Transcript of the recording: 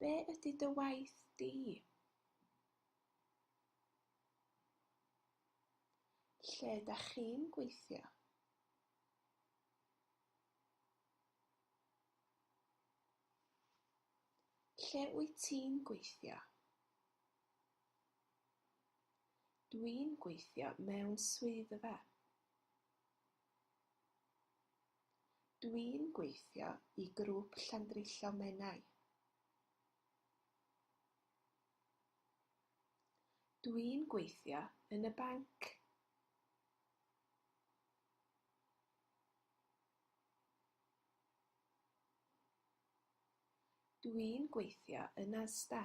Be ydy dy waith di? Lle dach chi'n gweithio? Lle wyt ti'n gweithio? Dwi'n gweithio mewn swyddfa. Dwi'n gweithio i Grŵp Llandrillo Menai. Dwi'n gweithio yn y banc. Dwi'n gweithio yn Asda.